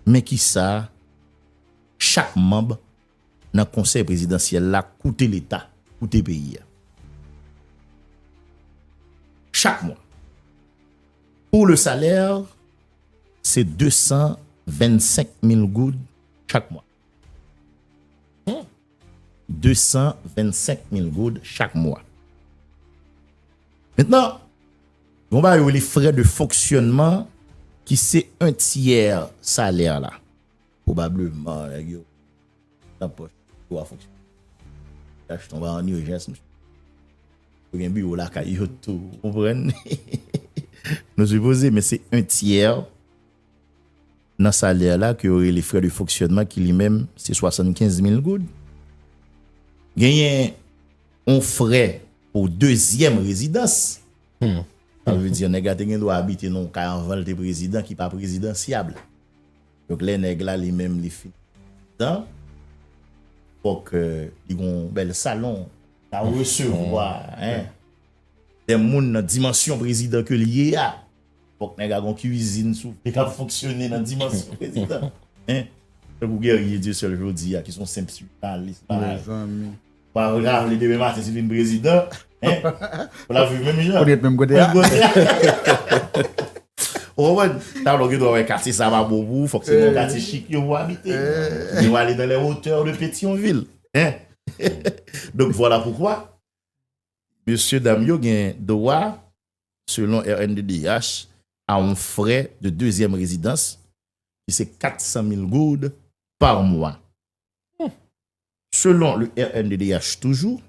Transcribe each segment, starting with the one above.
Men ki sa chak manb nan konsèy prezidansyèl la koute leta, koute peyi a. Chak mwa. Pou le salè, se 225 mil goud chak mwa. Hum! 225 mil goud chak mwa. Mentnan, gen yon bagay yo rele frè de fonksyònman ki se 1 tyè salè la. Pwobableman nèg yo nan pòch yo a fonksyònman. Tach tonba an urjans mesye. Yo gen biwo lakay yo tou, ou konprann? Nou sipoze men se 1 tyè. nan salè la ke yo rele frais de fonctionnement ki li menm se 75 mil goud. Genyen yon frais pou dezyèm rezidans. Sa vle di nèg la te gen dwa abite nan yon kay anvan l te prezidan ki pa prezidansyab. Donk lè nèg la li menm li fin prezidan, fòk li gen yon bèl salon pou ta resevwa de moun nan dimansyon prezidan ke l ye a. Fòk nèg la gon kwizin sou vre kap fonksyone nan dimansyon prezidan hein. Tankou Guerrier Dieuseul jodi a ki son senp swifalis pareil. Pral rale demen maten si vin prezidan hein. Pou lap viv menm jan. Pou li ret menm kote a. Ou konprann? Talan w gen dwa wè katye sa pa bon pou ou, fòk se nan yon katye chik yo pou abite. Ou byen wale nan les hauteurs de Petion-Ville hein. Donk vwala poukwa mesye dam yo gen dwa. Selon rnddh, a on frè de dezyèm rezidans ki se 400 mil goud par mwa. Selon le rnddh toujou,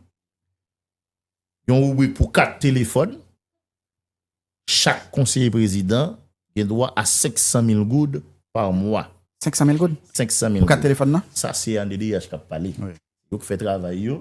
yon ribrik pou kat telefòn, chak konseye prezidan gen dwa a 500 mil goud par mwa. 500 mil goud? 500 mil goud. Pou kat telefòn nan? Sa se rnddh k ap pale. Yo k fè travay yo,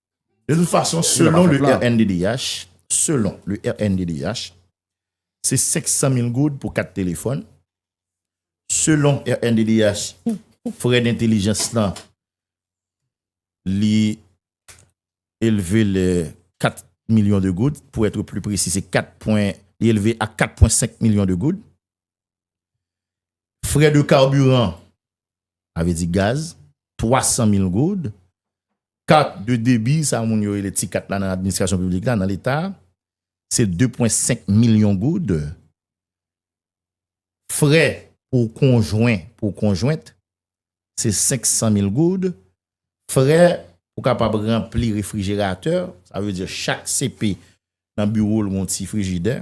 De tout fason, selon le rnddh, selon le rnddh, se 500 mil goud pou 4 telefòn, selon rnddh, frè dentelijans lan li elve le 4 milyon de goud, pou etre pli presi se 4 pwen, li elve a 4 pwen 5 milyon de goud, Frè de karbiran, sa vle di gaz, 300 mil goud. Kat de debi, sa moun yo rele ti kat la nan administrasyon piblik la, nan leta, se 2,5 milyon goud. Frè pou konjwen, pou konjwent, se 500 mil goud. Frè pou kapab ranpli refrijeratè, sa vle di chak CP nan biwo l gon ti frijidè,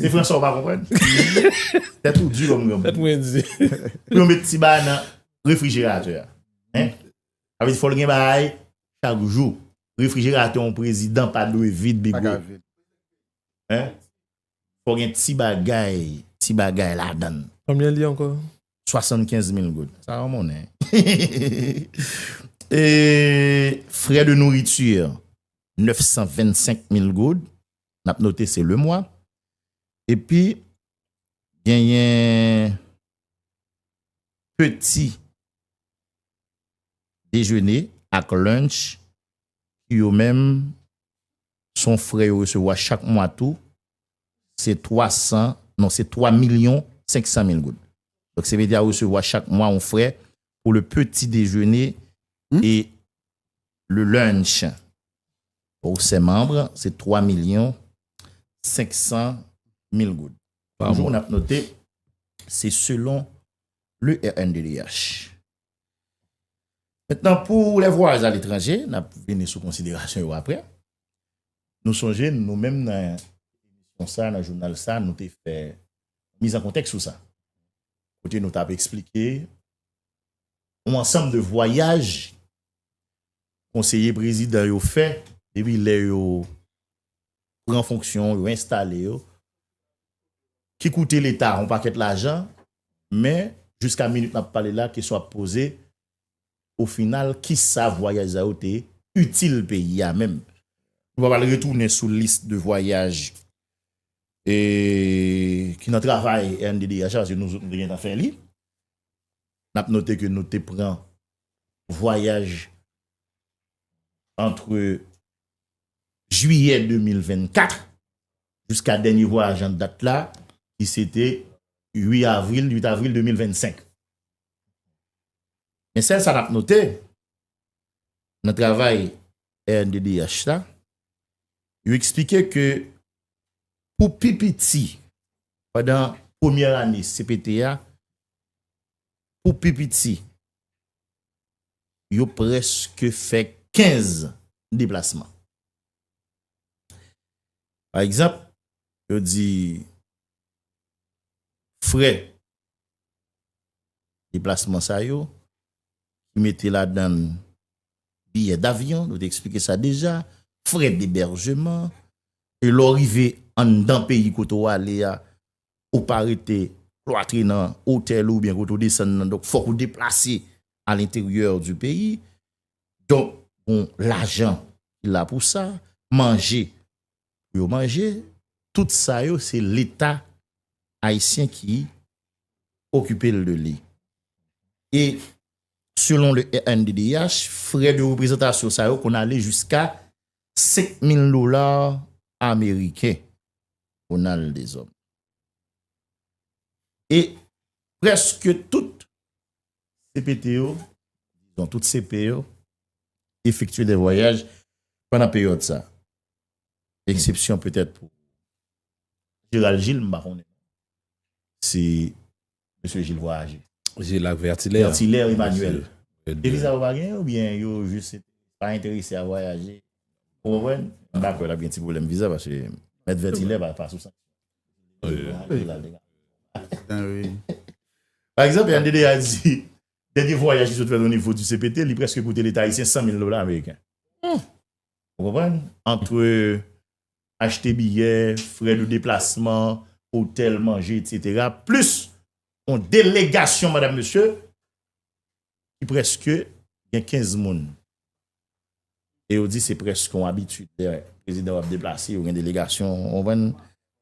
Se franse ou pa konprann? Tèt ou di kòm granmoun. Tèt mwen di. Pou yo met ti ba nan refrijeratè a. Hein? Sa vle di fòl gen bagay chak jou. Refrijeratè yon prezidan pa dwe vid bigo. Pa ka vid. Hein? Fò gen ti bagay, ti bagay ladann. Konbyen li ankò? 75 mil goud. Sa yon monnen. Frais de nourriture 925 mil goud. N ap note se lemwa. Epi genyen peti dejene ak lunch ki yo menm son frè yo resevwa chak mwa tou. Se 3 san, non se 3 milyon 500 mil goud. Donk Sevedia resevwa chak mwa yon frè pour le petit déjeuner et le lunch. Pou se manb, se 3 milyon 500 mil goud. Toujou n ap note, se selon le rnddh. Mentnan pou les voyages à l'étranger, n ap vini sou konsiderasyon yo aprè. Nou sonje nou menm nan emisyon sa, nan jounal sa, nou te fè miz an kontèks sou sa. Kote nou t ap eksplike yon ansanm de vwayaj konseye prezidan yo fè depi lè yo pran fonksyon, yo enstale yo, ki koute leta yon pakèt lajan, men jiska minit n ap pale la kesyon ap poze, O final ki sa vwayaj sa yo te itil peyi a menm? Nou pa pral retounen sou lis de vwayaj ki nan travay rnddh la paske nou te gentan fè li. N ap note ke nou te pran vwayaj antre jiyè 2024 jiska dènye vwayaj an dat la ki se te 8 avril 2025. Men sèl sa n ap note nan travay rnddh la, yo eksplike ke pou pi piti pandan premyè ane cpt a, pou pi piti yo prèske fè 15 deplasman. Pa egzanp, yo di frè Deplasman sa yo, ki mete ladann biyè davyon, nou te eksplike sa deja, frè deberjeman, e lè w rive anndan peyi kote w ale a, ou pa rete klwatre nan otèl ou oubyen kote ou desann nan, donk fòk ou deplase a lenteryè di peyi, donk bon lajan ki la pou sa, manje pou yo manje, tout sa yo se leta ayisyen ki okipe l de li. E selon le rnddh, frè de reprezantasyon sa yo konn ale jiska 5000 dola ameriken. Ronald Deshommes. E preske tout CPT yo, tout CP yo, efektye de vwayaj pandan peryòd sa. Eksepsyon petèt pou Gérald Gilles m pa konnen. Se Mesye Gilles Voyager. Gilles ak Vertilaire. Vertilaire Emmanuel. Depi sa yo pa gen oubyen yo jis pa enterese a vwayaje. Ou konprann? M pa kwè l ap gen ti pwoblèm viza paske Mèt Vertilaire pa sou sanksyon. Pa egzanp RDDH di dènye vwayaj li sot fè onivo di CPT li prèske koute Leta ayisyen 100 mil dola ameriken. Ou konprann? Antre achte biyè, frè de deplasman, otèl, manje, etsetera, plis yon delegasyon madam mesye ki prèske gen 15 moun. E yo di se prèske yon abitid lè prezidan yo ap deplase yo gen delegasyon, ou konprann?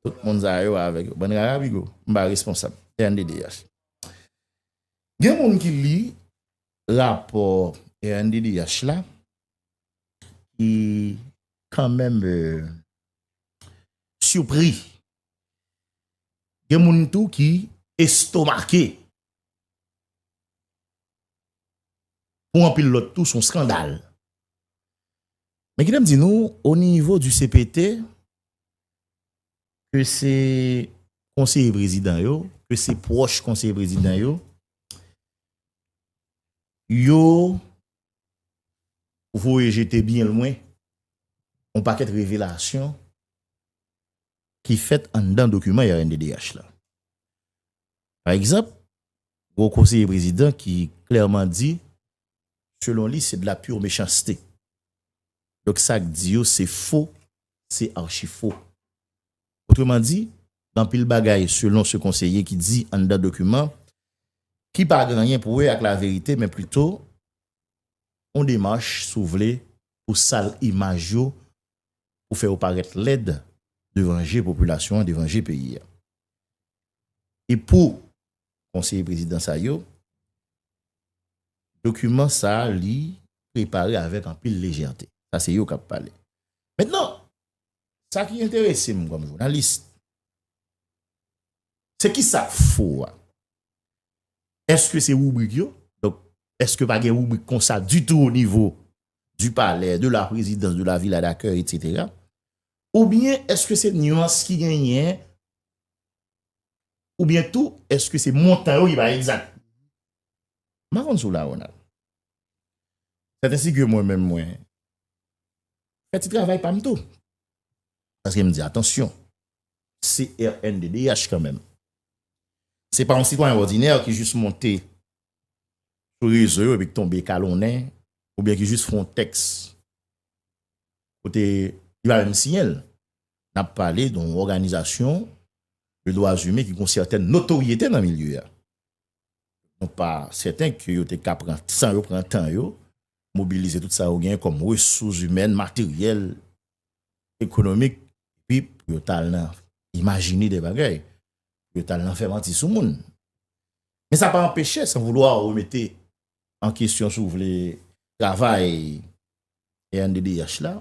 Tout moun sa yo avèk yo. Bann rara bigo. M pa responsab. Rnddh. Gen moun ki li rapò rnddh la ki kan menm sipri. Gen moun tou ki estomake. Pou anpil lòt tou son skandal. Men kite m di nou, o nivo di CPT, ke se konseye prezidan yo, ke se pwòch konseye prezidan yo, yo Ou voye jete byen lwen yon pakèt revelasyon ki fèt anndan dokiman rnddh la. Pa egzanp, gen yon konseye prezidan ki klèman di, selon li, se de la pure méchanceté. Donk sa k di yo se fo, se archi-fo. Otreman di, gen anpil bagay selon se konseye ki di anndan dokiman ki pa gen anyen pou wè ak laverite men plito yon demach si w vle pou sal imaj yo pou fè yo parèt lèd devan je popilasyon an, devan je peyi a. E pou konseye prezidan sa yo, dokiman sa li prepare avèk anpil lejète. Sa se yo k ap pale. Mentnan, Sa ki enterese m kòm jounalis, se ki sa k fo a? Eske se ribrik yo? Donk, eske pa gen ribrik konsa ditou o nivo di palè, de la prezidans, de la vila dakèy, etsetera? Ou byen eske se nuans ki genyen? Ou byen tou, eske se montan yo ki pa egzat? M pa konn si w la, Ronald. Sèt ensi ke mwen menm mwen, fè ti travay pa m tou. Paske m di atansyon, se rnddh kanmenm. Se pa yon sitwayen òdinè ki jis monte sou rezo yo epi ki tonbe kalonnen oubyen ki jis fè yon tèks kote li pa menm siyen l. N ap pale de yon òganizasyon de dwazimen ki gen yon sèten notoryete nan milye a. Nou pa sèten ke yo te ka pran san yo, pran tan yo mobilize tout sa yo genyen kòm resous imèn, materyèl, ekonomik, epi pou yo ta al nan imajine de bagay, pou yo ta al nan fè manti sou moun. Men sa pa anpeche, san voulwa ou remete an kesyon sou vle travay rnddh la,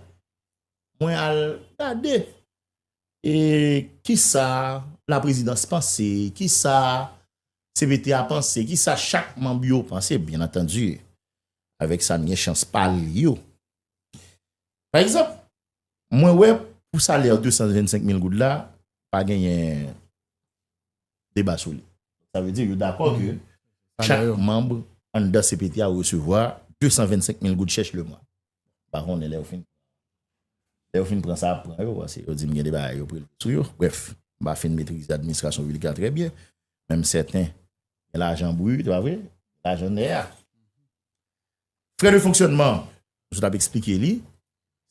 mwen al gade e kisa la prezidans panse, kisa Cpt a panse, ki sa chak manb yo panse, byen antandi, avèk sa m gen chans pa li yo. Pa egzanp, mwen wè pou salè 225 mil goud la, pa genyen deba sou li. Sa vle di yo dakò ke chak manb anndan cpt a resevwa 225 mil goud chèch le mwa. M pa konnen lè yo fin lè yo fin pran sa y ap pran yo pase yo di m gen de bagay yo prelve sou yo brèf m pa fin metrize administrasyon piblik la trè byen men m sèten gen lajan brut e pa vre lajan nè a frè de fonksyònman m sot ap eksplike li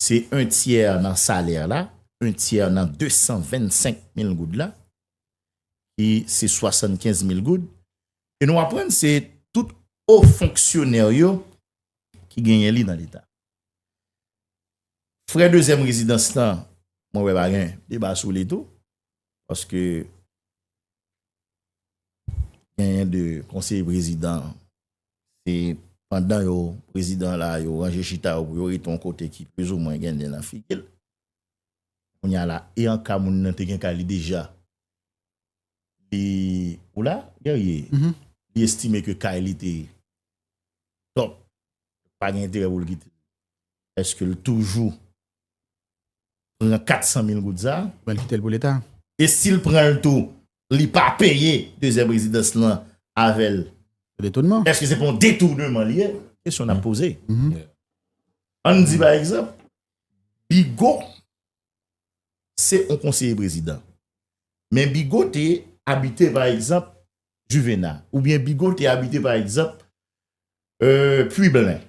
se en tyè nan salè la en tyè nan 225 mil goud la ki se 75 mil goud e nou aprann se tout o fonksyonè yo ki genyen li nan leta. Frè dezyèm rezidans la, mwen wè pa gen deba sou li tou, paske genyen de konseye prezidan, se pandan yo prezidan la, yo ranje chita yo pou yo rete yon kote ki plis ou mwen gen nen nan figi l. Kounye a la, e an ka moun nan te gen kay li deja, Li ou la guerrier li estime ke kay li te top pa gen enterè pou l kite l eske l toujou pran 400 mil goud sa Bal kite l pou leta. E si l pran l tou li pa peye dezyèm rezidans lan avè l Se detonman. eske se pa yon detournement li ye kesyon n ap poze An n di pa egzanp Bigo se yon konseye prezidan. Men Bigot te abite pa egzanp Juvena oubyen Bigot te abite pa egzanp Pui Blen.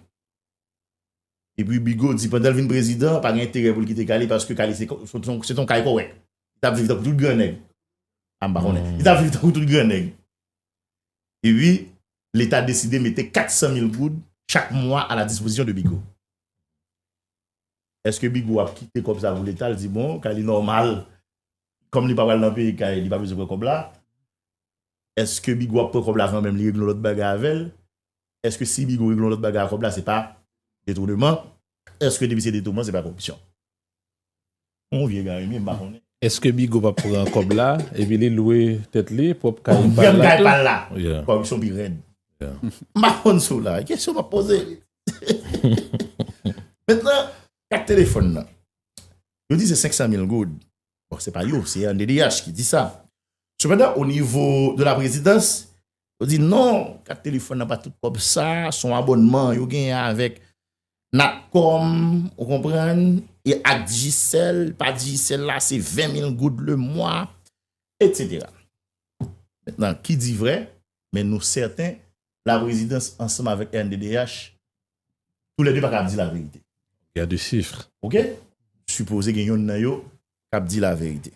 E pi Bigot di pandan l vin prezidan pa gen enterè pou l kite Kali paske Kali se te yon kay kòrèk. Li ta viv tankou tout gran nèg. A m pa konnen. Li ta viv tankou tout gran nèg. E pi leta deside mete 400 mil goud chak mwa a la dispozisyon de Bigot. Eske Bigo ap kite kòb sa pou leta l di bon kay li nòmal kòm li pa pral nan peyi kay li pa bezwen pran kòb la eske Bigo ap pran kòb la kanmèm li regle yon lòt bagay avèl eske si Bigo regle yon lòt bagay ak kòb la se pa detouneman eske depi se detouman se pa koripsyon. Bon vye gari mi m pa konnen. Eske bigo pap pran kob la epi li lwe tet li prop kay pal la tou. Vyann kay pal la. Koripsyon pi rèd. M pa konn sou la. Kesyon map poze. Mentnan kat telefon nan. Yo di se 500 mil goud. Bon se pa yo se anddh ki di sa. Sepandan o nivo de la prezidans Yo di non, kat telefòn nan pa tout kòb sa, son abònman yo genyen avèk Natcom, ou konprann, e ak Digicel, pa Digicel la se 20 mil goud le mwa, etc. Mètnan, ki di vrè, men nou sèten, la prezidans ansanm avèk rnddh, tou lè 2 pa ka ap di la verite. Gade sifr. Ok? Sipoze gen yonn nan yo k ap di la verite.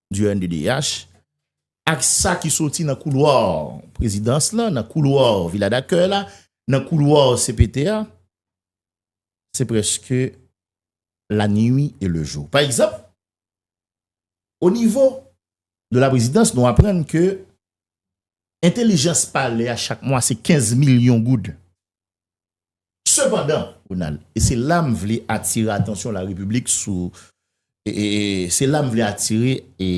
du NDDH, ak sa ki soti nan koulwa prezidans la, nan koulwa vila dakèy la, nan koulwa CPT a, se preske la nui e le jou. Pa egzanp, o nivo de la prezidans nou aprann ke entelijans palè a chak mwa se 15 milyon goud. Sepandan, Ronald, e se la m vle atire atansyon la Repiblik sou, e se la m vle atire e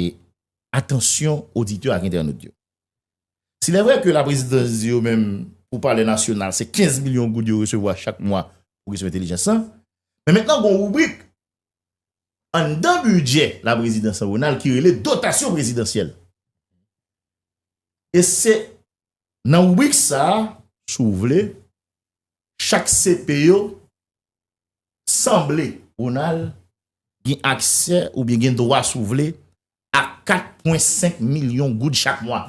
atansyon oditè ak entènot yo. Silèvrè ke Laprezidans di yo menm pou Palè Nasyonal se 15 milyon goud yo resevwa chak mwa pou kesyon entelijans lan, men mentnan gon ribrik anndan bidjè Laprezidans lan Ronald ki rele dotasyon prezidansyèl. E se Nan ribrik sa, si w vle, chak CP yo sanble, Ronald, gen aksè oubyen gen dwa si w vle a 4 pwen 5 milyon goud chak mwa.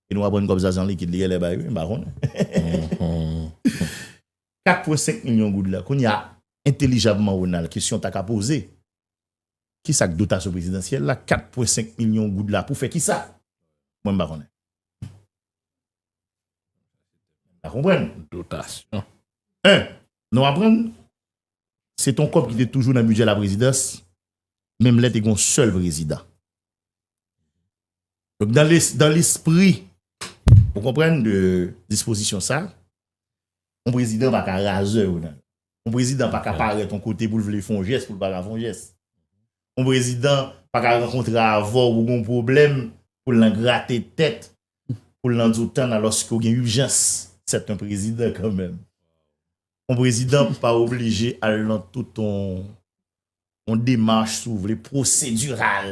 E nou aprann kòb sa se an likid li gen lè bay wi, m pa konnen. 4 pwen 5 milyon goud la, kounye a, entelijabman Ronald, kesyon ta ka poze, Kisa k dotasyon prezidansyèl la? 4 pwen 5 milyon goud la pou fè kisa? Mwen m pa konnen. M pa konprann. Dotasyon. 1, Nou aprann se t on kòb ki te toujou nan bidjè laprezidans menm lè te gen yon sèl prezidan. Donk dan le, dan lespri ou konprann de dispozisyon sa, yon prezidan pa ka razè yo nan. Yon prezidan pa ka parèt yon kote pou l vle fè yon jès pou l pa ka fè yon jès. Yon prezidan pa ka rankontre avè w pou gen yon pwoblèm pou l nan grate tèt, pou l nan di w tann alòske w gen ijans. Sèt yon prezidan kanmenm. Yon prezidan pa oblije al nan tout yon yon demach si w vle pwosediral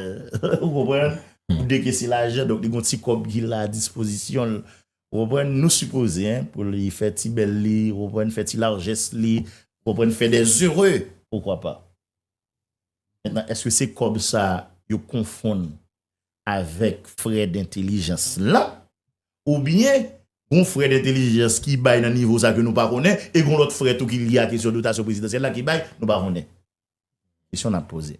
ou konprann pou dekese lajan donk li gon ti kòb ki la dispozisyon l ou konprann nou sipoze pou li fè ti bèl li ou konprann fè ti larjès li ou konprann fè de zere poukwa pa eske se kòb sa yo konfonn avèk frè dentelijans lan, oubyen gon frè dentelijans ki bay nan nivo sa ke nou pa konnen, e gon lòt frè tou ki lye a kesyon dotasyon prezidansyèl la ki bay, nou pa konnen. Kesyon n ap poze.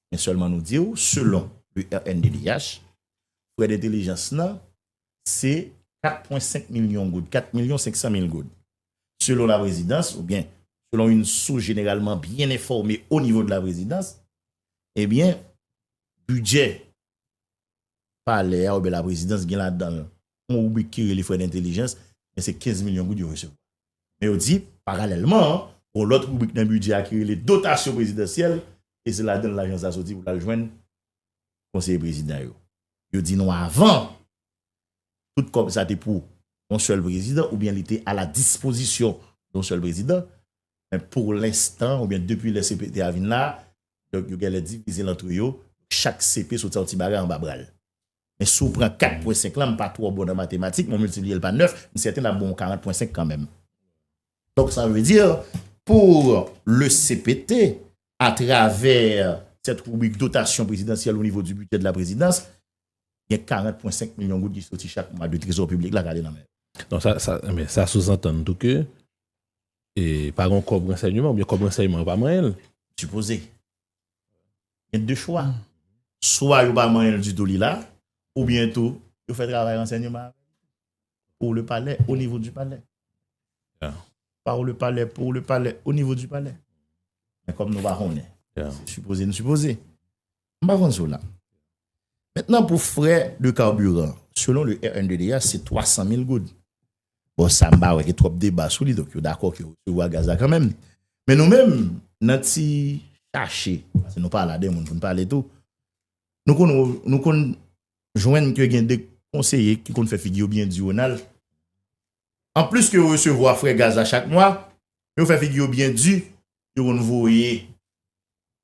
Men sèlman nou di ou, selon le rnddh, frè dentelijans lan se 4 pwen 5 milyon goud, 4 milyon 500 mil goud. Selon la prezidans, oubyen selon yon sous jeneralman byen enfòme o nivo de la prezidans, ebyen, Bidjè palè a oubyen laprezidans gen ladan l yon ribrik ki rele frè dentelijans men se 15 milyon goud yo resevwa. Men yo di, paralèlman, gon lòt ribrik nan bidjè a ki rele dotasyon prezidansyèl e se ladan l lajan sa soti pou l al jwenn konseye prezidan yo. Yo di nou avan, tout kòb sa te pou yon sèl prezidan oubyen li te ala dispozisyon yon sèl prezidan men pou lenstan oubyen depi lè CPT a vin la, Donk yo genlè divize l antre yo, chak CP soti a yon ti bagay anba bra l. Men si w pran 4 pwen 5 lan, m pa twò bon nan matematik men w miltipliye l pa 9, m sèten l ap ba w 40 pwen 5 kanmenm. Donk sa vle di, pour le cpt, à travers cette rubrique dotation présidentielle au niveau du budget de la présidence, gen 40 pwen 5 milyon goud ki soti chak mwa de trezò piblik la k ale nan men yo. Donk sa souzantann tou ke E pa gon kòb ransèyman oubyen kòb ransèyman yo pa manyen l. Sipoze. Gen de chwa. Swa yo pa manyen l ditou li la, oubyen tou yo fè travay ransèyman avè l pou le palè, o nivo di palè. Ya. Par le palè, pou le palè, o nivo di palè. Men kòm nou pa konnen. Ya. Se sipoze n sipoze. M pa vann Zola. Mentnan pou frè de karbiran, selon le rnddh se 300 mil goud. Bon sa m pa wè gen twòp deba sou li donk yo dakò ke yo resevwa gaz la kanmenm. Men nou menm nan ti chache, paske nou pa la de moun pou n pale tou, nou konn wè, nou konn jwenn ke gen de konseye ki konn fè figi yo byen diwonal. Anplis ke yo resevwa frè gaz la chak mwa, yo fè figi yo byen di, yo konn voye.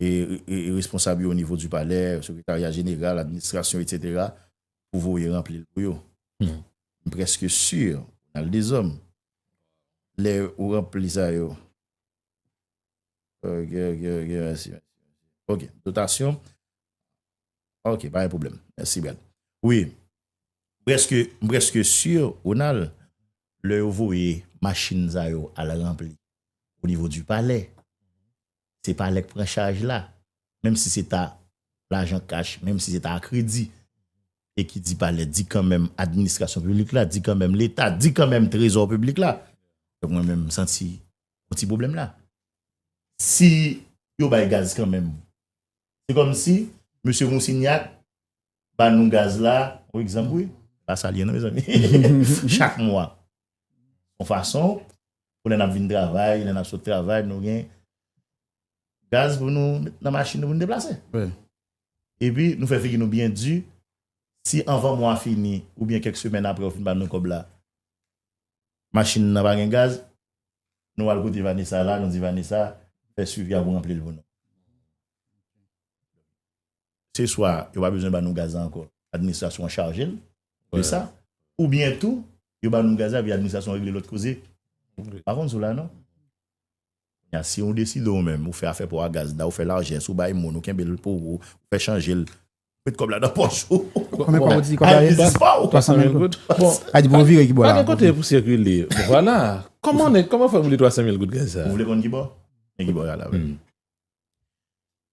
responsab yo o nivo di palè, sekretarya jeneral, administrasyon, etc. Pou voye ranpli l pou yo. M preske sur, al dezòm, lè ou ranpli sa yo. Ok, ok, ok, mèsi. Ok, dotasyon. Ok, pa gen pwoblèm. Mèsi, Brad. Wi, m preske sur, Ronald, lè yo voye machin sa yo al ranpli o nivo di palè, se pa lè k pran chaj la, menm si se ta lajan kach, menm si se ta a kredi, e ki di pa lè di kanmenm administrasyon piblik la, di kanmenm leta, di kanmenm trezò piblik la, donk mwen menm m santi yon ti pwoblèm la. Si yo bay gaz kanmenm, se kòmsi mesye Monsignac ba nou gaz la yon egzanp wi la sa li ye non mezanmi chak mwa yon fason pou lè n ap vin travay lè n ap sot travay nou gen gaz pou nou met nan machin nou pou nou deplase epi nou fè figi nou byen di si anvan mwa fini oubyen kèk semèn apre yo fin ba nou kòb la machin nan pa gen gaz nou al kote Vanessa la nou di Vanessa fè swivi a pou ranpli l pou nou se swa yo pa bezwen ba nou gaz la ankò, administrasyon an chaje l de sa, oubyen tou yo ba nou gaz la epi administrasyon an regle lòt koze. M pa konn si w la non. Kounya si ou deside ou menm ou fè afè pa w ak gaz la, ou fè lajès, ou bay moun, ou kenbe l pou ou, ou fè chanje l, ou met kòb la nan pòch ou, Ayiti biznis pa w. Ayiti pou w vire ki bò la. Pa gen kote pou sikile. Vwala. Kòman fè pou li 300 mil goud gaz sa? Ou vle konn ki bò? Men ki bò y al avè l.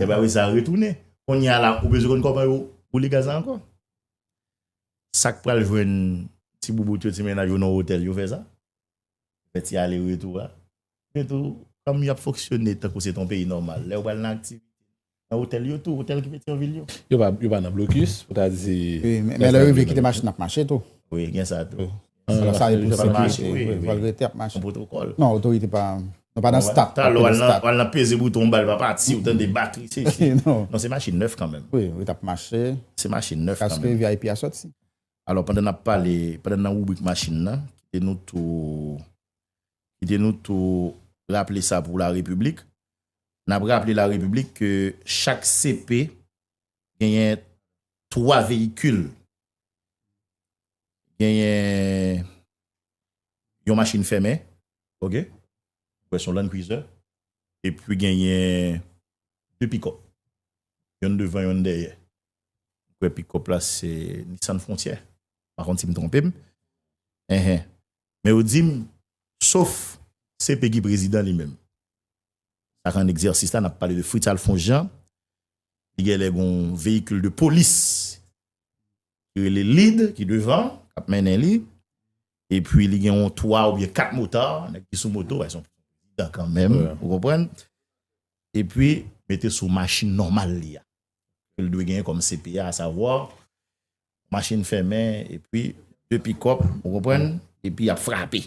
E ba wi sa retounen. Kounye a la ou bezwen konn kòman yo boule gaz la ankò? Sa k pral jwenn ti boubout yo, ti mennaj yo nan otèl yo fè sa? Fè ti ale retou a. Yo tou kòm y ap fonksyone tankou se te yon peyi nòmal. Lè yo pral nan aktivite nan otèl yo tou, otèl ki Petyonvil yo. Yo pa nan blokis pou ta di. Wi men lè yo rive kite machin nan ap mache tou. Wi gen sa tou. Salon sa e pou se mache wi. Vòl vòl rete ap mache. Non otorite pa nou pa nan stat. Talè w al nan peze bouton w bal pa pati ou tande batri se si. Non se machin nèf kanmèm. Wi li tap mache. Se machin nèf kanmèm. Paske vip a soti. Alò pandan nap pale, pandan nan ribrik machin nan, kite nou tou kite nou tou raple sa pou la repiblik. Nap raple la repiblik ke chak CP genyen 3 veyikil. genyen yon machin fèmen, ok, m kwè se yon Land Cruiser, epi genyen 2 pikòp, yonn devan yonn dèyè. M kwè pikòp la se Nissan Frontier, m pa konn si m twonpe m. Enhen. Men yo di m, sof CP ki prezidan li menm. Sa k an egzèsis la, n ap pale de Fritz Alphonse Jean, li genlè gen yon veyikil de polis ki rele lead ki devan kap mennen li epi li gen yon 3 oubyen 4 motard nèg ki sou moto bay son dan kanmenm ou konprann epi mete sou machin nòmal li a ke l dwe genyen kòm CPA a savwa machin fèmen epi 2 pikòp ou konprann epi yap frape.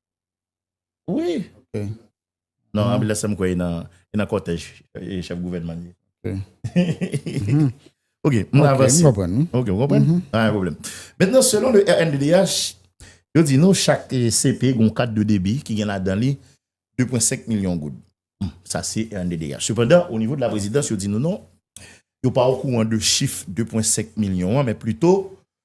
Wi. Non anbilans sa m kwè e nan kòtèj chèf gouvènman an ye. Ok, m avanse. Ok, m konprann. Pa gen pwoblèm. Mentnan selon le rnddh, yo di nou chak CP gon kat de debi ki gen ladan li 2.5 milyon goud. Sa se rnddh. Sepandan, o nivo de la prezidans yo di nou non, yo pa okouran de chif 2.5 milyon an men plito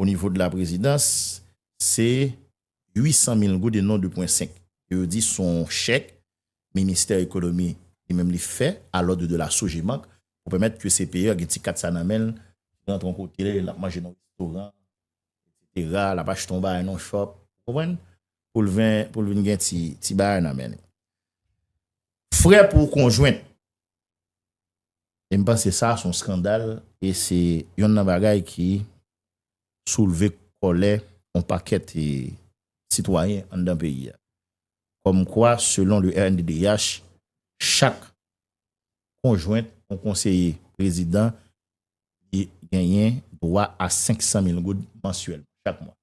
O nivo de la prezidans, se 800 mil goud e non 2 pwen 5. E yo di son chèk ministè ekonomi li menm li fè a lòd de la Sogebank pou pèmèt ke CPE gen ti kat sa nan menl, li rantre yon kote, l ap manje nan yon restoran, etsetera, l ap achte yon bagay nan yon shop, ou konprann, poul vin gen ti bagay nan men li. Frè pou konjwent, E m panse sa son skandal e se yonn nan bagay ki soulve kòlè yon pakèt sitwayen anndan peyi a. Kòm kwa selon le rnddh chak konjwent yon konseye prezidan li genyen dwa a 500 mil goud mansyèlman, chak mwa.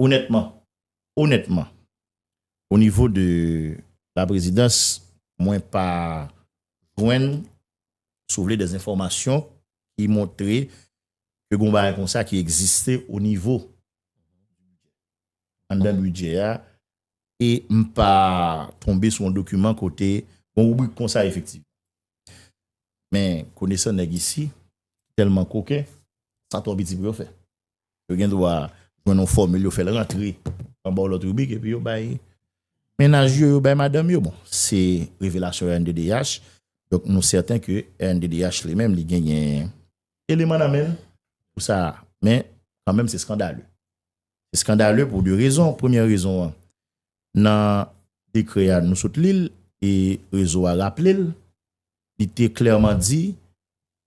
Onètman, onètman, O nivo de la prezidans mwen pa jwenn si w vle dè enfòmasyon ki montre ke gon bagay konsa ki egziste o nivo anndan bidjè a e m pa tonbe sou yon dokiman kote gon ribrik konsa efektivman. Men konesan nèg isi tèlman koken sa twò piti pou yo fè. Yo gen dwa jwenn yon fòmil, yo fè l rantre anba yon lòt ribrik epi yo bay mennaj yo, yo bay madanm yo. Bon, se revelasyon rnddh, donk nou sèten ke rnddh li menm li genyen eleman nan men l pou sa a. Men, kan menm se skandale. Se skandale pou de rezon. Premyè rezon an, nan dekrè a nou sot li l e rezo a raple l, li te klèman di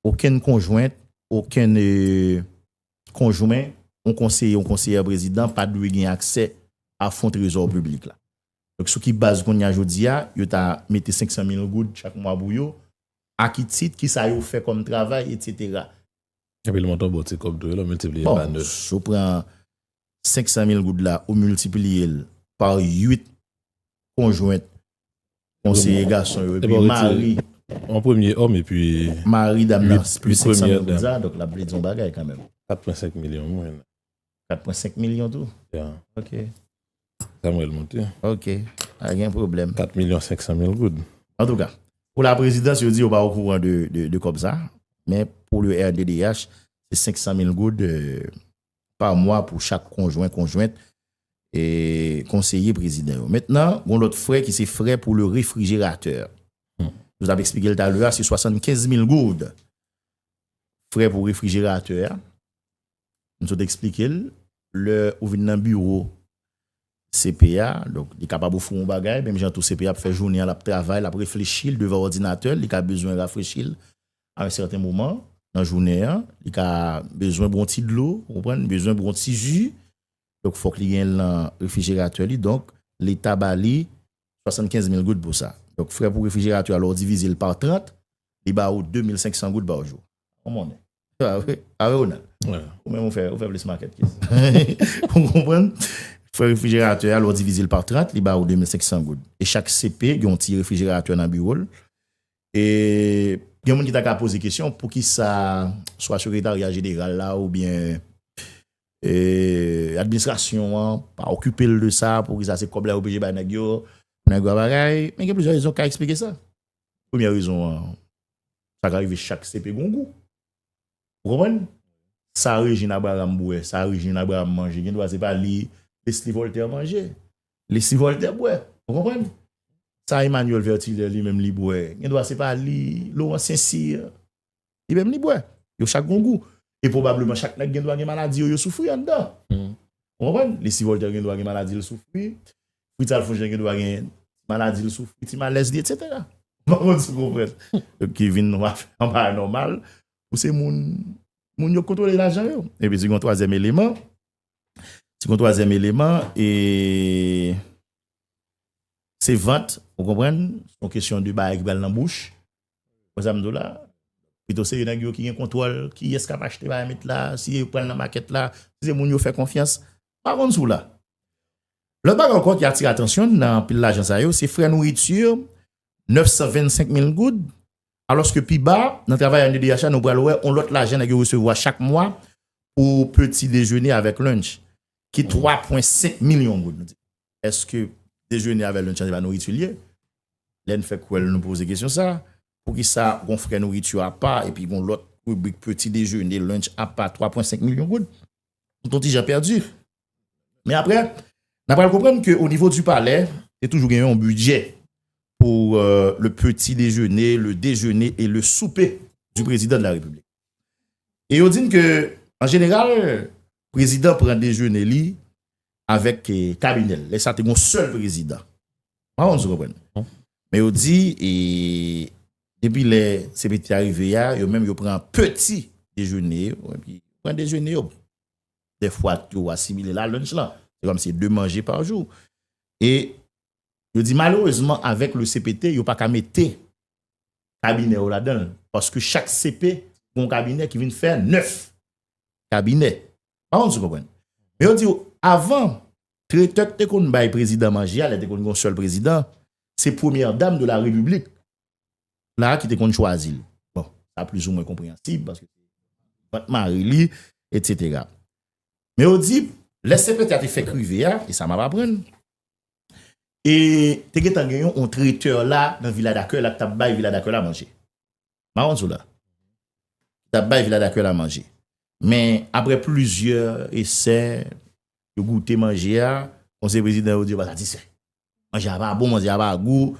okenn konjwent, okenn konjwen yon konseye, yon konseyè prezidan pa dwe gen aksè a fon trezò piblik la. Donk sou ki baz kounye a jodi a, yo ta mete 500 mil goud chak mwa pou yo, a ki tit, ki sa yo fè kòm travay, etsetera. Epi l monte yon bon ti kòb tou wi lè w miltipliye l pa 9. Bon, si w pran 500 mil goud la ou miltipliye l pa 8 konjwen Konseye gason yo epi mari. Yon premye òm epi. Mari dam nan 500 mil goud sa donk lap vle di yon bagay kanmenm. 4.5 milyon mwen. 4.5 milyon tou? Ya. Ok. Sa mwen remonte. Ok. Pa gen pwoblèm. 4 milyon 500 mil goud. An tou ka. Pou la prezidans yo di yo pa o kouran de kòb sa. Men pou le RDDH se 500 mil goud pa mwa pou chak konjwen, konjwent, e konseye prezidan yo. Mentnan, gon lòt frè ki se frè pou le refrijeratè. Nou tap eksplike l talè a, se 75 mil goud. Frè pou refrijeratè a, m sot eksplike l, lè ou vin nan biwo CP a, donk li kapab ofri w yon bagay, menm jan tou CP a ap fè jounen an, l ap travay, l ap reflechi, l devan òdinatè l, li ka bezwen rafrechi l, A un certain moment nan jounen an, li ka bezwen bwon ti dlo, ou konprann, li bezwen bwon ti ju, donk fòk li genyen l nan refrijeratè li, donk leta ba li 75 mil goud pou sa. Donk frè pou refrijeratè a lè w divize l par 30, li ba ou 2500 goud par jou. Ou konnen. Se pa vre? A vre Ronald? Ou menm ou fè ou fè plis makèt ke sa. Ou konprann? Frè refrijeratè a lè w divize l par 30, li ba ou 2500 goud. E chak CP gen yon ti refrijeratè nan biwo l, E gen moun ki ta ka poze kesyon poukisa swa sekretarya jeneral la oubyen administrasyon an pa okipe l de sa, poukisa se kòb la yo oblije bay nèg yo, men gen plizyè rezon ki ka esplike sa. Premyè rezon an, sa ka rive chak sepe gon gou. Ou konprann? Sa Rejin Abraram bwè, sa Rejin Abraram manje, gen dwa se pa li Lesly Voltè manje. Li si Voltè bwè, ou konprann? Sa Emmanuel Vertilè li menm li bwè, gen dwa se pa li, Laurent St-Cyr, li menm li bwè. Yo chak gen yon gou. E pwobableman chak nèg gen dwa gen maladi yo yo soufri anndan. Ou konprann? Li si Voltè gen dwa gen maladi l soufri, Fritz Alphonse Jean gen dwa gen maladi l soufri, ti malèz li etsetera. M pa konn si w konprann. Ki vin yon anba anòmal pou se moun moun yo k kontwole lajan yo. Epi di gen yon twazyèm eleman. Si gon twazyèm eleman e se vant ou konprann son kesyon de bagay ki pral nan bouch ou konprann sa m di w la pito se yo nèg yo ki gen kontwòl kiyès k ap achte bagay met la si yo pran nan makèt la si se moun yo fè konfyans m pa konn si w la lòt bagay ankò ki atire atansyon m nan anpil lajan sa yo se frè nouritur 925 mil goud Alòske pi ba, nan travay a NDDH la, nou pral wè yon lòt lajan nèg yo resevwa chak mwa pou peti dejene avèk lunch, ki 3 pwen 5 milyon goud. Nou di, èske dejene avèk lunch la se pa nouriti l ye? Lè n fè kwèl nou poze kesyon sa a, poukisa gon frè nouriti apa epi gon lòt ribrik peti dejene, lunch apa 3 pwen 5 milyon goud? Nou t on ti jan pèdi. Men apre, nan pral konprann ke o nivo di palè, te toujou gen yon bidjè pou le peti dejene, le dejene e le soupe di prezidan de la republik. E yo di n ke, an jeneral, prezidan pran dejene li avèk kabinè l. Lè sa te gen yon sèl prezidan. Mpa konn si w konprann. Men yo di, e depi lè CPT a rive a, yo menm yo pran peti dejene yo, pran dejene yo. Dè fwa tou ou asimile la lunch lan. Se kòm se 2 manje pa jou. E yo di malerezman avèk le CPT yo pa ka mete kabinè yo ladan l. Paske chak CP gon kabinè ki vin fè 9 kabinè. Pa konn si w konprann. Men yo di ou avan tretè ki te konn bay prezidan manje a lè te konn gon sèl prezidan se premyè dam de la repiblik la ki te konn chwazi l. Bon, sa plizoumwen konpreyansib, paske vant mari li, etsetera. Men yo di, lè sè Petya te fèk rive a, e sa m ap aprann, e te gentan gen yon tretè la nan vila dakèy la k t ap bay vila dakèy la manje. Maron sou la. K t ap bay vila dakèy la manje. Men, apre plizyè esè, yo goute manje a, konseye prezidan yo di yo pa satisfè. manje a pa bon, manje a pa gou,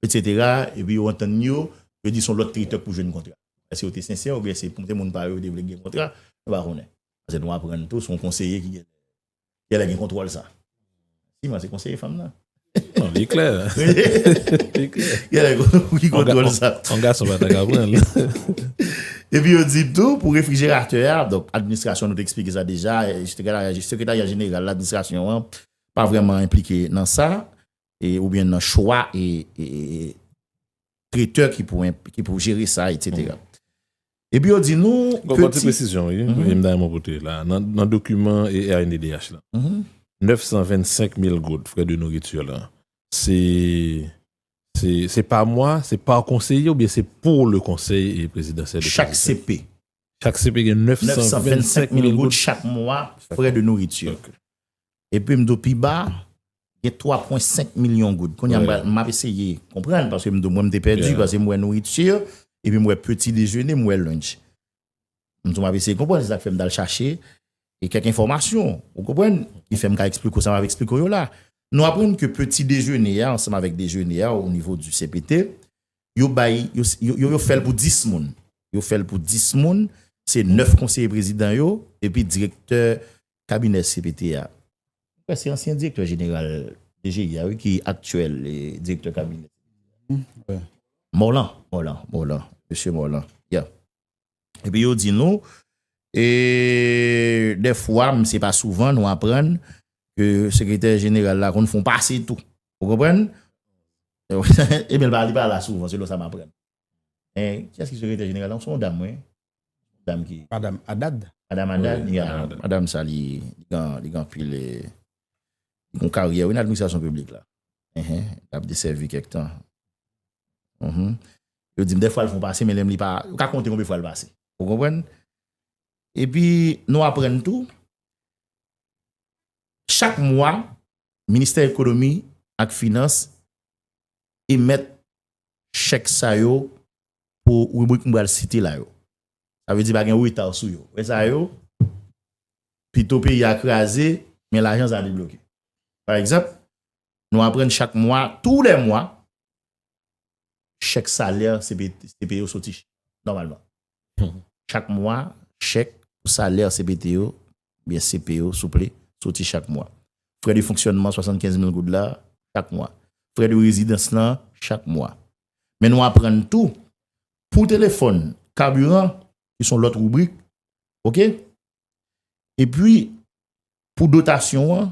etc. Epi yo antann yo, yo di son lòt kritè pou jwenn kontra. Èske yo te sensè oubyen se pou se moun pa yo yo te vle gen kontra, nou pa konnen. Pase nou aprann tou son konseye ki gen genlè gen kontwòl sa. Si mwen se konseye fanm nan. Non li klè. Li klè. Genlè gen moun ki kontwòl sa. On gason pa ta ka pran l. Epi yo di tou pou refrijeratè a, donk administrasyon nou te eksplike sa deja, sekretarya jeneral administrasyon an. pa vrèman enplike nan sa oubyen nan chwa e tretè ki pou jere sa etsetera. Epi yo di nou peti. Gon ti presizyon wi, m ta renmen pote la. Nan dokiman ERNDDH la, 925 mil goud frè de nouriti la, se se pa mwa, se pa konseye oubyen se pou le konsèy prezidansyèl. Chak CP. Chak CP gen 925 mil goud chak mwa frè de nouriti. Epi m di w pi ba, gen 3,5 milyon goud. Kounye a m ap eseye konprann, paske m di w mwen m te pèdi, paske m wè nouriti, epi m wè peti dejene, m wè lunch. M di w m ap eseye konprann, se sa k fè m t al chache kèk enfòmasyon, ou konprann, ki fè m ka esplike w sa m ap esplike w yo la. Nou aprann ke peti dejene a, ansanm avèk dejene a, o nivo di CPT, yo bay, yo yo fèl pou 10 moun. Yo fèl pou 10 moun, se 9 konseye prezidan yo, epi direktè kabinè CPT a. Mwen kwè se ansyen direktè jeneral DGI a wi ki aktyèl direktè kabinè. Morlan, Morlan, Morlan, mesye Morlan, ya. Epi yo di nou, e de fwa, men se pa souvan nou aprann, ke sekretè jeneral la konn fon pase tou. Ou konprann? E men li pa la souvan, se lò sa m aprann. E, ki yas ki sekretè jeneral la? Se yon dam wi. Dam ki. Madam Adad. Madam Adad, ya. Madam sa li gan, li gan pil e, li kon karyè wi nan administrasyon piblik la. Ehe, li ap desèvi kèk tan. Ehe. Yo di m dèfwa l fon pase men lè m li pa, yo ka konte konbe fwa l pase. Ou konprann? E pi nou aprann tou, chak mwa Ministè Ekonomi ak Finans emèt chèk sa yo pou ribrik m pral site la yo. Sa vle di pa gen reta sou yo. Lè sa yo, pito peyi a kraze, men lajan sa debloke. Pa egzanp, nou aprann chak mwa, tou lè mwa, chèk salè CPT yo soti chak nòmalman. Chak mwa, chèk pou salè CPT yo, oubyen CP yo, souple, soti chak mwa. Frè de fonksyònman 75 mil goud la, chak mwa. Frè de rezidans lan, chak mwa. Men nou aprann tou, pou telefòn, kabiran, ki son lòt ribrik, ok? Epi, pou dotasyon an,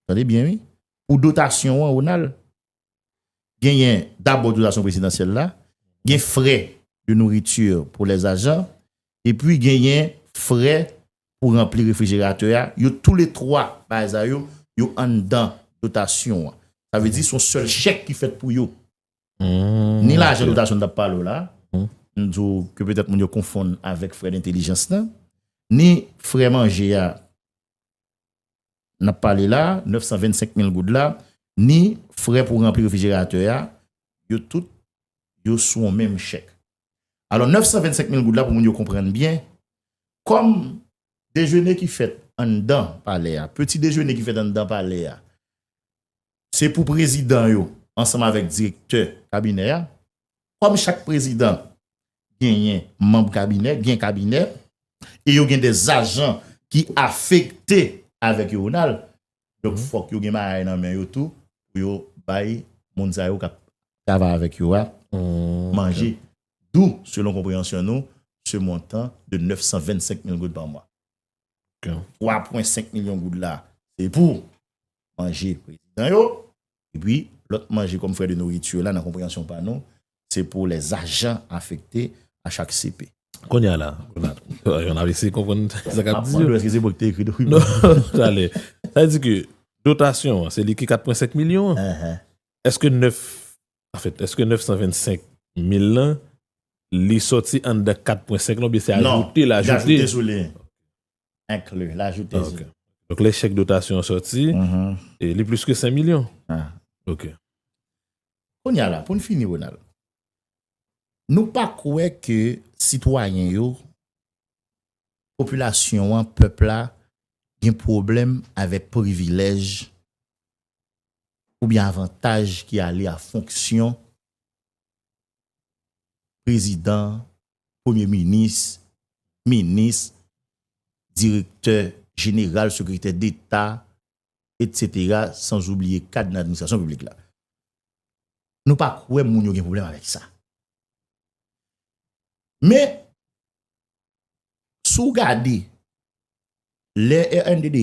tande byen wi, pou dotasyon an, Ronald, genyen dabò otorizasyon prezidansyèl la, gen frè de nourriture pou lè zajan, epi genyen frè pou ranpli refrijeratè a, yo tou le 3 bagay sa yo, yo anndan dotasyon an. Sa vle di son sèl chèk ki fèt pou yo. Ni lajan dotasyon n ap pale w la, m di w ke petèt moun yo konfonn avèk frè dentelijans lan, ni frè manje a n ap pale la, 925 mil goud la, ni frè pou ranpli refrijeratè a, yo tout, yo sou yon menm chèk. Alò, 925 mil goud la, pou moun yo konprann byen, kòm dejene ki fèt anndan palè a, peti dejene ki fèt anndan palè a, se pou prezidan yo ansanm avèk direktè kabinè a, kòm chak prezidan genyen manb kabinè, gen kabinè, e yo gen des ajan ki afekte avèk yo Ronald, donk fòk yo gen bagay nan men yo tou pou yo bay moun sa yo kap travay avèk yo a manje, d'où selon konpreyansyon nou ce montant de 925 mil goud par mois. 3.5 milyon goud la se pou manje prezidan yo, Epi, lòt manje kòm frè de noriti yo la nan konpreyansyon pa nou, se pou lè ajan afekte a chak CP. Kounye a la, yon ap eseye konprann sa kap di yo. Map mande w eske se mwen ki te ekri dokiman an? Non, tale. Sa vle di ke dotasyon an, se li ki 4 pwen 5 milyon an? Eske 9, anfèt, eske 925 mil lan, li sòti anndan 4 pwen 5 lan oubyen se ajoute l ajoute? Non, li ajoute sou li. Inclus, l'ajoute sur. Donk lè chèk dotasyon an sòti, li plis ke 5 milyon. Ok. Kounye a la, pou n fini Ronald, nou pa kwè ke sitwayen yo, popilasyon an, pèp la, gen pwoblèm avèk privilèj oubyen avantaj ki ale a fonksyon prezidan premye minis, minis, direktè jeneral, sekretè deta, etc. Sans oubliye kad nan administrasyon piblik la. Nou pa kwè moun yo gen pwoblèm avèk sa. Men, sou gade, lè rnddh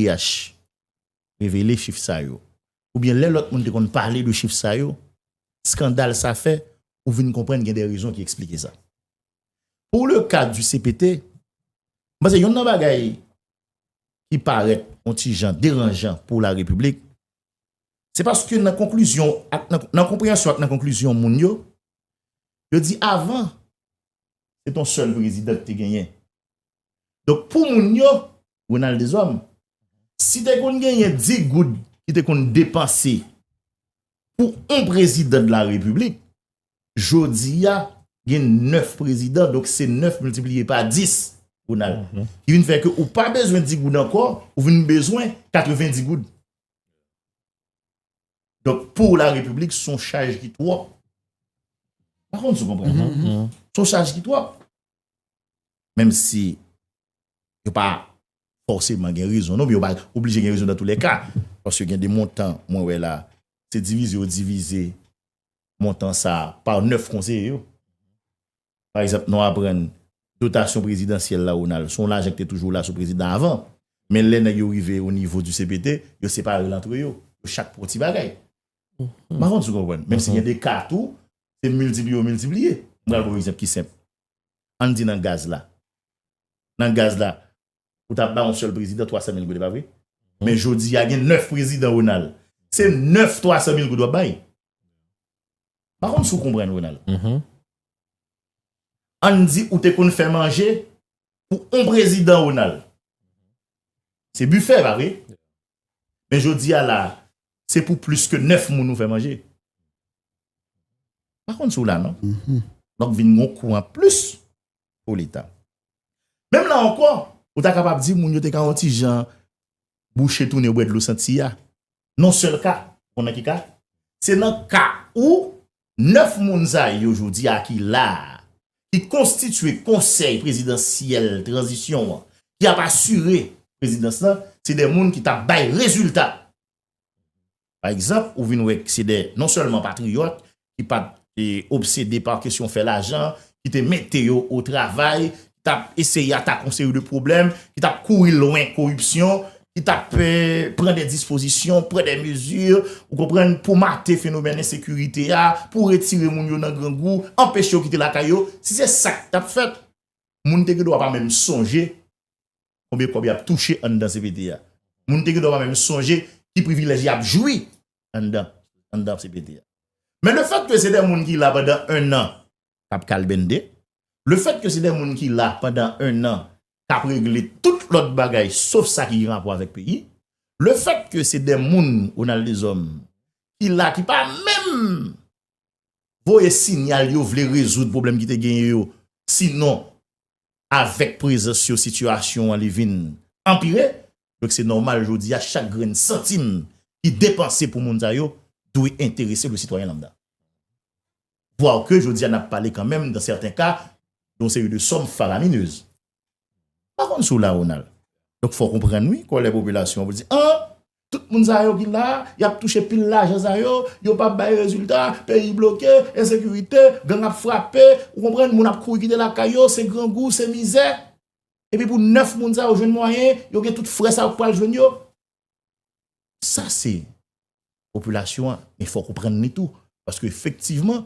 revele chif sa yo, oubyen lè lòt moun te konn pale de chif sa yo, skandal sa fè ou vin konprann gen de rezon ki eksplike sa. Pou le ka di cpt, m panse yonn nan bagay ki parèt yon ti jan deranjan pou la repiblik, se paske nan konklizyon ak nan konpreyansyon ak nan konklizyon moun yo, yo di avan se ton sèl prezidan ki te genyen. Donk pou moun yo, Ronald Deshommes, si te konn genyen 10 goud ki te konn depanse pou on prezidan de la repiblik, jodi a gen 9 prezidan, donk se 9 miltipliye pa 10, Ronald, ki vin fè ke ou pa bezwen 10 goud ankò, ou vin bezwen 90 goud. Donk pou la repiblik son chaj ki twòp. Pa konn si w konprann. Son chaj ki twòp. Menm si yo pa fòseman gen rezon non, men yo pa oblije gen rezon nan tou lè ka. Paske gen de montan mwen wè la, se divize yo divize montan sa a pa 9 konseye yo. Pa egzanp, nou aprann dotasyon prezidansyèl la Ronald, se yon lajan ki te toujou la sou prezidan avan. Men lè nèg yo rive o nivo di CPT, yo separe l antre yo. Yo chak pran yon ti bagay. M pa konn si w konprann. Menm si gen de ka tou, se miltipliye yo miltipliye. M pral ba w yon egzanp ki senp. Ann di nan gaz la. Nan gaz la, ou ta bay yon sèl prezidan 300 mil goud, e pa vre? Men jodi a gen 9 prezidan, Ronald. Se 9 300 mil goud w ap bay. M pa konn si w konprann, Ronald. Ann di ou te konn fè manje pou yon prezidan, Ronald. Se bifè, e pa vre? Men jodi a la a, se pou plis ke 9 moun ou fè manje. Pa konn si w la non. Donk vin gon kou an plis pou leta. Menm la ankò, ou ta kapab di moun yo te ka yon ti jan bouche tou ne bwè dlo santi a. Non sèl ka, ou konnen ki ka? Se nan ka ou 9 moun sa yo jodi a ki la a, ki konstitye konsèy prezidansyèl tranzisyon an, ki ap asire prezidans lan, se de moun ki t ap bay rezilta. Pa egzanp, ou vin wè k se de non sèlman patriyòt, ki pa t obsede pa kesyon fè lajan, ki te mete yo o travay, ki t ap eseye atake yon seri de pwoblèm, ki t ap kouri lwen koripsyon, ki t ap pran de dispozisyon, pran de mezi, ou konprann, pou mate fenomèn ensekirite a, pou retire moun yo nan grangou, anpeche yo kite lakay yo, si se sa ki t ap fèt, moun te gen dwa pa menm sonje konbyen kòb y ap touche anndan cpt a. Moun te gen dwa pa menm sonje ki privilèj y ap jwi anndan cpt a. Men lefètke se de moun ki la pandan ennan, k ap kalbennde. Lefèt ke se de moun ki la pandan ennan k ap regle tout lòt bagay sof sa ki gen rapò avèk peyi. Lefèt ke se de moun, Ronald Deshommes, ki la ki pa menm voye sinyal yo vle rezoud pwoblèm ki te genyen yo sinon avèk prezans yo sitiyasyon an li vin anpire. Donk se nòmal jodi a chak grenn santim ki depanse pou moun sa yo dwe enterese le sitwayen lambda. Voir que jodi a n ap pale kanmenm dan sèten ka de yon seri de sòm faraminez. M pa konn si w la Ronald. Donk fò w konprann wi kòlè popilasyon an pou l di an! Tout moun sa yo ki la, y ap touche pil lajan sa yo, yo pa bay rezilta, peyi bloke, ensekirite, gang ap frape, ou konprann, moun ap kouri kite lakay yo, se grangou, se mizè. Epi pou 9 moun sa yo jwenn mwayen, yo gen tout frè sa yo k pral jwenn yo. Sa se popilasyon an, men fòk ou prann li tou. Paske efektivman,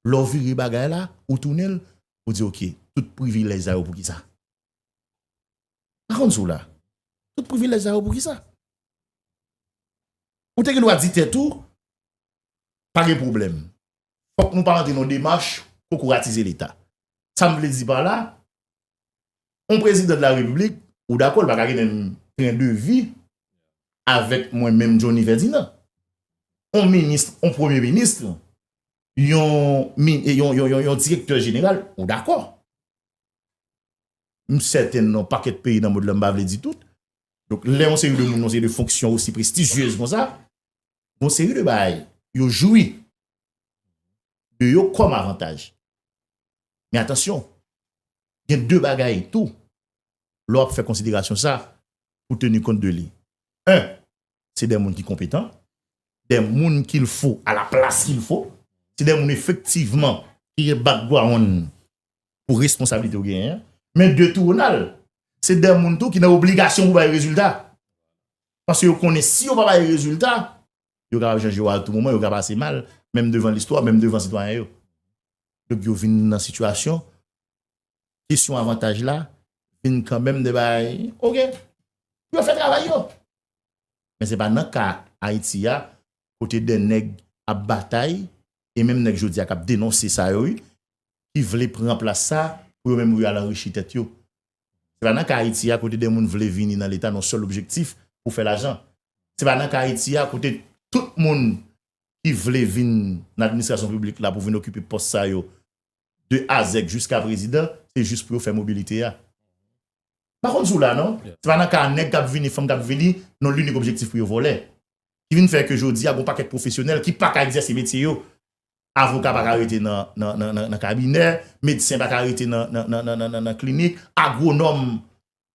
lè w vire bagay la, ou tounen l, ou di ok, tout privilèj sa yo pou ki sa? Pa konn si w la. Tout privilèj sa yo pou ki sa? Ou te gen dwa di tèt ou, pa gen pwoblèm. fòk nou pa antre nan yon demach kokoratize leta. Sa m vle di pa la, yon prezidan de la repiblik, ou dakò li pa ka gen menm tren de vi avèk mwen menm Johnny Ferdinand. Yon minis, yon premye minis, yon direktè jeneral, ou dakò. M sèten nan pakèt peyi nan mond lan, m pa vle di tout, donk lè yon seri de moun nan yon seri de fonksyon osi prestijiez kon sa, Gon seri de bagay yo jwi de yo kòm avantaj. Men atansyon, gen de bagay tou lè w ap fè konsiderasyon sa pou teni kont de li. 1, Se de moun ki konpetan, de moun ki l fo a la plas ki l fo. Se de moun efektivman ki gen bakgwawonn pou responsablite ou genyen an. Men 2 tou Ronald, se de moun tou ki nan obligasyon pou bay rezilta. Paske yo konnen si yo pa bay rezilta, yo kapab chanje yo a tou moman, yo ka pase mal, menm devan listwa, menm devan sitwayen yo. Donk yo vin nan sitiyasyon, kesyon avantaj la, vin kanmenm de bay, ok, pou yo fè travay yo. Men se pa nan ka Ayiti ya, kote de nèg ap batay, e menm nèg jodi ya kap denonse sa yo wi, ki vle pran plas sa, pou yo menm yo al anrichi tèt yo. Se pa nan ka Ayiti a kote de moun vle vini nan leta nan sèl objektif pou fè lajan. Se pa nan ka Ayiti a kote tout moun ki vle vin nan administrasyon piblik la pou vin okipe pòs sa yo de a zèk jiska prezidan se jis pou yo fè mobilite a. M pa konn si w la non. Se pa nan ka nèg k ap vini, fanm k ap vini nan linik objektif pou yo vòlè. Ki vin fè ke jodi a gen yon pakèt pwofesyonèl ki pa ka egzèse metye yo. Avoka pa ka rete nan kabinè, medsen pa ka rete nan klinik, agwonòm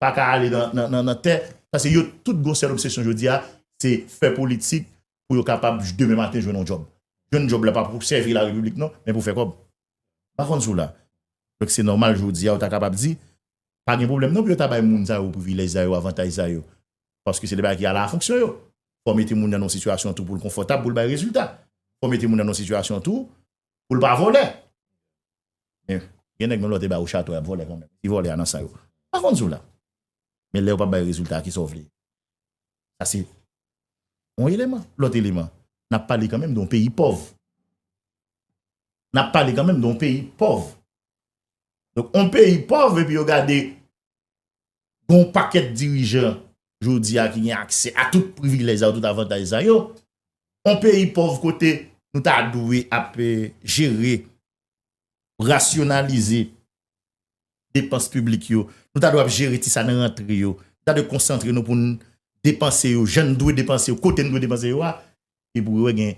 pa ka ale nan tè. Pase yo tout gon sèl obsesyon jodi a, se fè politik pou yo kapab demen maten jwenn yon djòb. Jwenn djòb la pa pou sèvi la repiblik non, men pou fè kòb. Pa konn si w la. Donk se nòmal jodi a ou ta kapab di, pa gen pwoblèm non pou yo ta bay moun sa yo privilèj sa yo, avantaj sa yo. Paske se de bagay ki ala fonksyon yo. fò mete moun nan yon sitiyasyon tou pou l konfòtab pou l bay rezilta. Fò mete moun nan yon sitiyasyon tou pou l pa vòlè. Men, gen nèg menm lè w te ba yo chato y ap vòlè kanmenm. Ti vòlè a nan san yo. Mwen pa konn di w la. Men lè yo pa bay rezilta, kisa w vle? Sa se yon eleman. Lòt eleman, n ap pale kanmenm de yon peyi pòv. N ap pale kanmenm de yon peyi pòv. Donk yon peyi pòv epi yo gade gen yon pakèt dirijan jodi a ki gen aksè a tout privilèj sa yo, tout avantaj sa yo, yon peyi pòv kote nou ta dwe ap jere, rasyonalize depans piblik yo, nou ta dwe ap jere ti sa nan rantre yo, nou ta dwe konsantre nou pou nou depanse yo jan nou dwe depanse yo, kote nou dwe depanse yo a, epi ou wè gen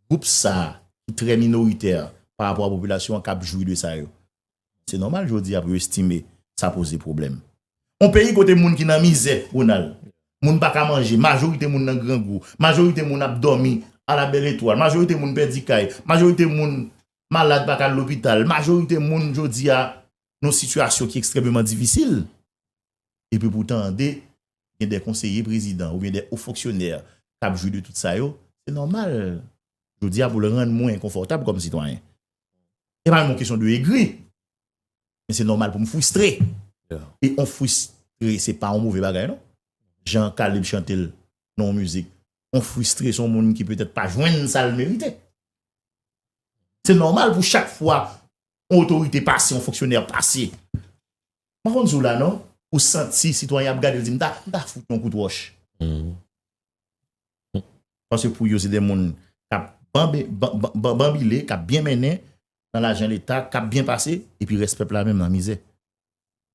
gwoup sa a ki trè minoritè pa rapò a popilasyon an k ap jwi de sa yo. Se nòmal jodi a pou yo estime sa poze pwoblèm. On peyi kote moun ki nan mizè, Ronald, moun pa ka manje, majorite moun nan grangou, majorite moun ap dòmi ala bèl etwal, majorite moun pèdi kay, majorite moun malad pa ka al lopital, majorite moun jodi a nan yon sitiyasyon ki ekstrèmeman difisil. epi pou tande gen de konseye prezidan oubyen de ofonksyonè k ap jwi de tout sa yo, se nòmal jodi a pou l rann mwen enkonfòtab kòm sitwayen. Se pa menm yon kesyon de egri, men se nòmal pou m fristre. E on fristre se pa yon move bagay non. Jan K-lib chante l nan yon mizik, on fristre se yon moun ki petèt pa jwenn sa l merite. Se nòmal pou chak fwa on otorite pase, on fonksyonè pase, Mpa konn sou la non. Ou santi sitwayen ap gadew di mta mta fout yon kout wòch. Paske pou yo se de moun kap banbile, kap byen mennen nan lajan leta, kap byen pase epi rès pèp la menm nan mizè.